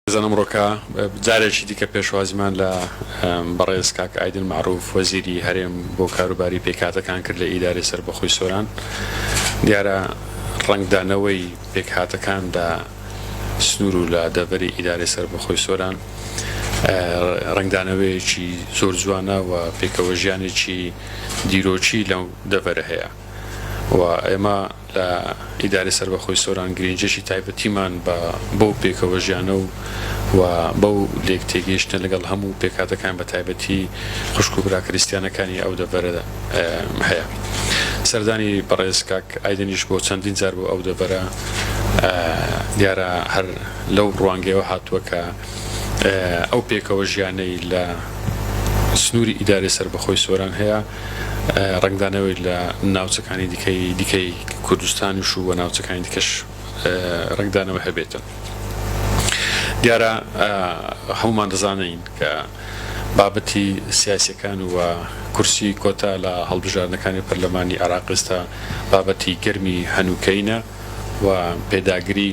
بزن ئەمڕۆکە جارێکی دیکە پێشوازیمان لە بەڕێز کاک ئایدن مەعروف وەزیری هەرێم بۆ کاروباری پێکهاتەکان کرد لە ئیدارەی سەربەخۆی سۆران دیارە ڕەنگدانەوەی پێکهاتەکان لە سنوور و لە دەڤەری ئیدارەی سەربەخۆی سۆران ڕەنگدانەوەیەکی زۆر جوانە و پێکەوەژیانێکی دیرۆکی لەو دەڤەرە هەیە. و ئێمە لە ئیدارەی سەربەخۆی سۆران گرینجێکی تایبەتیمان بە بەو پێکەوەژیانە و و بەو لێک تێگەیشتنە لەگەڵ هەموو پێکهاتەکان بە تایبەتی خوشک و برا کریستیانەکانی ئەو دەڤەرە هەیە سەردانی بەڕێز کاک ئایدنیش بۆ چەندین جار بۆ ئەو دەڤەرە دیارە هەر لەو ڕوانگەوە هاتووە کە ئەو پێکەوە ژیانەی لە سنووری ئیدارەی سەربەخۆی سۆران هەیە ڕەنگدانەوەی لە ناوچەکانی دیکەی دیکەی کوردستانیش و ناوچەکانی دیکەش ڕەنگدانەوە هەبێتن دیارە هەمومان دەزانین کە بابەتی سیاسەکان و کورسی کۆتا لە هەڵبژاردنەکانی پەرلەمانی عراقستا بابەتی گەرمی هەنووکەینە و پێداگری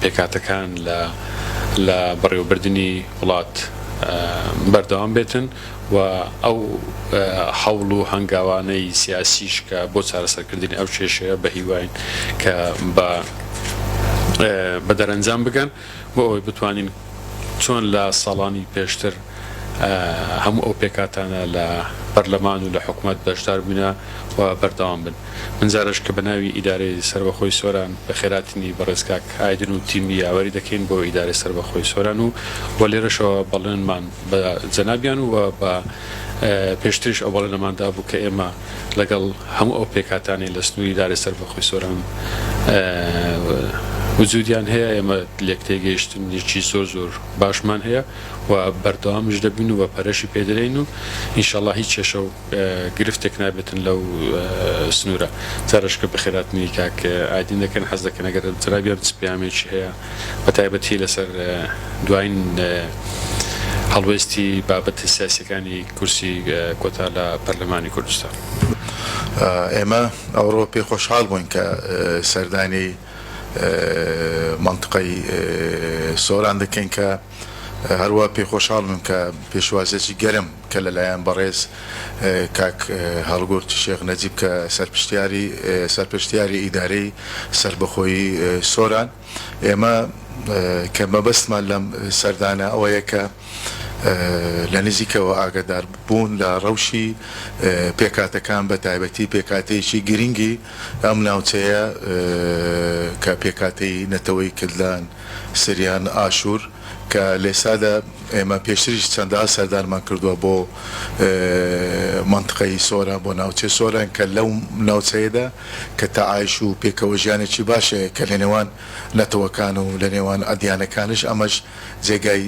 پێکهاتەکان لە بەڕێوەبردنی وڵات بەردەوام بێتن و ئەو هەوڵ و هەنگاوانەی سیاسیش کە بۆ چارەسەرکردنی ئەو کێشەیە بە هیواین کە بە دەرەنجام بگەن بۆ ئەوەی بتوانین چۆن لە ساڵانی پێشتر هەموو ئەو پێکهاتانە لە پەرلەمان و لە حکومەت بەشدار بووینە و بەردەوام بن من جارەش کە بە ناوی ئیدارەی سەربەخۆی سۆران بە خێراتنی بەڕێز کاک ئایدن و تیمی یاوەری دەکەین بۆ ئیدارەی سەربەخۆی سۆران و و لێرەشەوە بەڵێنمان بە جەنابیان و بە پێشتریش ئەو بەڵێنەمان دابوو کە ئێمە لەگەڵ هەموو ئەو پێکاتانی لە سنووری ئیدارەی سەربەخۆی سۆران وجودیان هەیە ئێمە لێک تێگەیشتنێکی زۆر زۆر باشمان هەیە و بەردەوامیش دەبین و بە پەرەشی پێ دەدەین و ئینشەڵا هیچ کێشە و گرفتێک نابێتن لەو سنوورە تەرشکە بەخێراتنی کاک ئایدین دەکەن حەز دەکەن ئەگەر جرابیان چ پەیامێکی هەیە بە تایبەتی لەسەر دواین هەڵوێستی بابەتە سیاسیەکانی کورسی کۆتا لە پەرلەمانی کوردستان. ئێمە ئەوڕۆ پێ خۆشحاڵ بووین کە سەردانی مەنتقەی سۆران دەکەین کە هەروا پێ خۆشحاڵمم کە پێشوازێکی گەرم کە لەلایەن بەڕێز کاک هەڵگورد شێخ نەجیب کە سەرپشتیاری سەرپشتیاری ئیدارەی سەربەخۆیی سۆران ئێمە کە مەبەستمان لەم سەردانە ئەوەیە کە لە نزیکەوە ئاگەدار بوون لە ڕەوشی پێکهاتەکان بە تایبەتی پێکهاتەیەکی گرنگی ئەم ناوچەیە کە پێکهاتەی نەتەوەی کلدان، سریان، ئاشور، کە لەئێستادا ئێمە پێشتریش چەندەها سەردانمان کردووە بۆ مەنتقەی سۆران بۆ ناوچەی سۆران کە لەو ناوچەیەدا کە تەعایش و پێکەوە ژیانێکی باش هەیە کە لەنێوان نەتەوەکان و لەنێوان ئەدیانەکانیش ئەمەش جێگای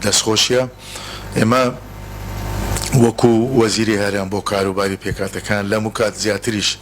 دەستخۆشیە ئێمە وەکو وەزیری هەرێم بۆ کاروباری پێکهاتەکان لەموکات زیاتریش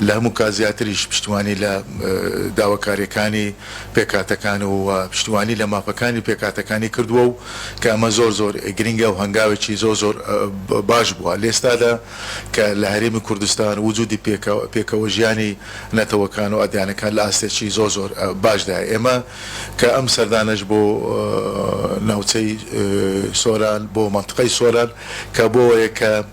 لە هەموو کات زیاتریش پشتیوانی لە داواکارییەکانی پێکهاتەکان و پشتیوانی لە مافەکانی پێکهاتەکانی کردووە و کە ئەمە زۆر زۆر گرنگە و هەنگاوێکی زۆر زۆر باش بووە لەئێستادا کە لە هەرێمی کوردستان وجودی پێکەوەژیانی نەتەوەکان و ئەدیانەکان لە ئاستێکی زۆر زۆر باشدایە ئێمە کە ئەم سەردانەش بۆ ناوچەی سۆران بۆ مەنتقەی سۆران کە بۆ ئەوەیە کە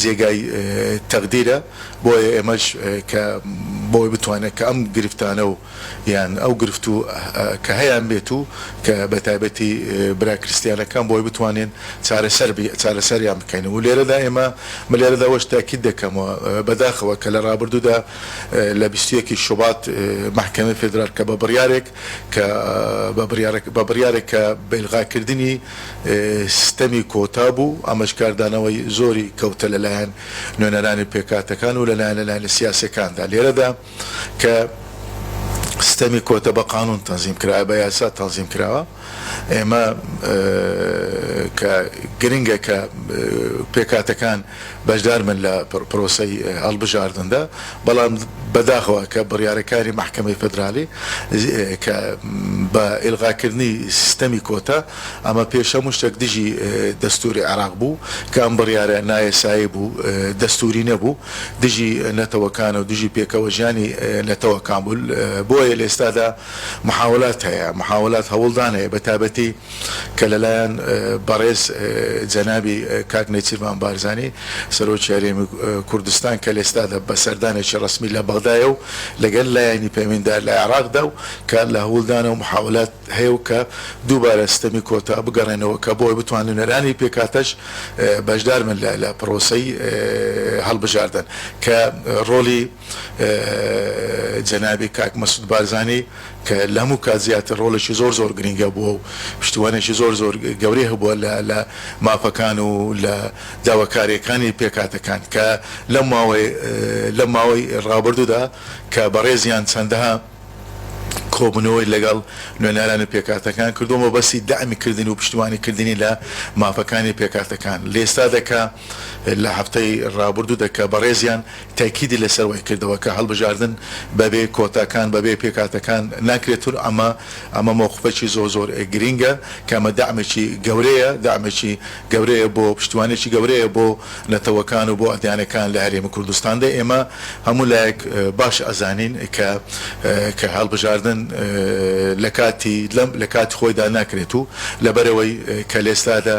جێگای تەقدیرە بۆیە ئێمەش کە بۆی بتوانێت کە ئەم گرفتانە و یان ئەو گرفت و کە هەیان بێت و کە بە تایبەتی برا کریستیانەکان بۆی بتوانین چارەسەر چارەسەریان بکەین و لێرەدا ئێمە من لێرەدا وەش تاکید دەکەم و بە داخەوە کە لە ڕابردوودا لە بیست و یەک ی شوبات مەحکەمەی فیدرال کە بە بڕیارێک کە بە بڕیارێک کە بەیلغاکردنی سیستەمی کۆتا بوو، ئەمەش کاردانەوەی زۆری کەوتە لەلایەن نوێنەرانی پێکهاتەکان و لەلایەن لایەنە سیاسیەکاندا لێرەدا کە سیستەمی کۆتا بە قانون تەنزیم کرایە بە یاسا تەنزیم کراوە ئێمە کە گرنگە کە پێکهاتەکان بەشدار بن لە پرۆسەی هەڵبژاردندا، بەڵام بەداخەوە کە بڕیارەکانی مەحکەمەی فیدرالی کە بە ئیلغاکردنی سیستەمی کۆتا، ئەمە پێش هەموو شتێک دژی دەستووری عێراق بوو، کە ئەم بڕیارە نایەسایی بوو، دەستووری نەبوو، دژی نەتەوەکان و دژی پێکەوەژیانی نەتەوەکان بوو، بۆیە لە ئێستادا محاولات هەیە، محاولات هەوڵدان هەیە بەتایبەتی. کە لەلایەن بەڕێز جەنابی کاک نێچیرڤان بارزانی سەرۆکی هەرێمی کوردستان کە لەئێستادا بە سەردانێکی ڕەسمی لە بەغدایە و لەگەل لایەنی پەیوەندیدار لە عێراقدا و کار لە هەوڵدانە و محاولات هەیە و کە دووبارە ستەمی کۆتا بگەڕێنەوە کە بۆ ئەوەی بتوان نوێنەرانی پێکهاتەش بەشدار بن لە پرۆسەی هەڵبژاردن کە ڕۆڵی جەنابی کاک مەسود بارزانی کە لە هەموو کات زیاتر ڕۆڵێکی زۆر زۆر گرینگ هەبووە و پشتیوانێکی زۆر زۆر گەورەی هەبووە لە لە مافەکان و لە داواکاریەکانی پێکهاتەکان کە لەم ماوەی لەم ماوەی ڕابردوودا کە بەڕێزیان چەندەها کۆبوونەوەی لەگەڵ نوێنەران و پێکهاتەکان کردووە مەبەستی دەعمی کردن و پشتیوانی کردنی لە مافەکانی پێکهاتەکان لە ئێستادا کە لە هەفتەی رابردوودا کە بەڕێزیان تەئکیدی لەسەر وای کردەوە کە هەڵبژاردن بەبێ کۆتاکان، بەبێ پێکهاتەکان ناکرێت و ئەمە ئەمە مەوقفێکی زۆر زۆر گرینگە کە ئەمە دەعمێکی گەورەیە، دەعمێکی گەورەیە بۆ پشتیوانێکی گەورەیە بۆ نەتەوەکان و بۆ ئەدیانەکان لە هەرێمی کوردستاندا. ئێمە هەموو لایەک باش ئەزانین کە کە هەڵبژاردن لە کاتی لەم لە کاتی خۆیدا ناکرێت و لەبەرئەوەی کە لە ئێستادا،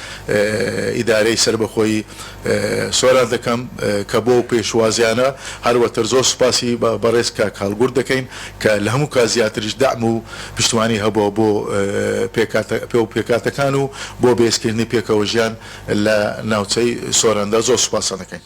ئیدارەی سەربەخۆی سۆران دەکەم کە بۆ ئەو پێشوازیانە هەروەتر زۆر سوپاسی بەڕێز کاک هەڵگورد دەکەین کە لە هەموو کات زیاتریش دەعم و پشتوانی هەبووە بۆ پێکهاتەکان و بۆ بەهێزکردنی پێکەوەژیان لە ناوچەی سۆراندا زۆر سوپاستان دەکەین.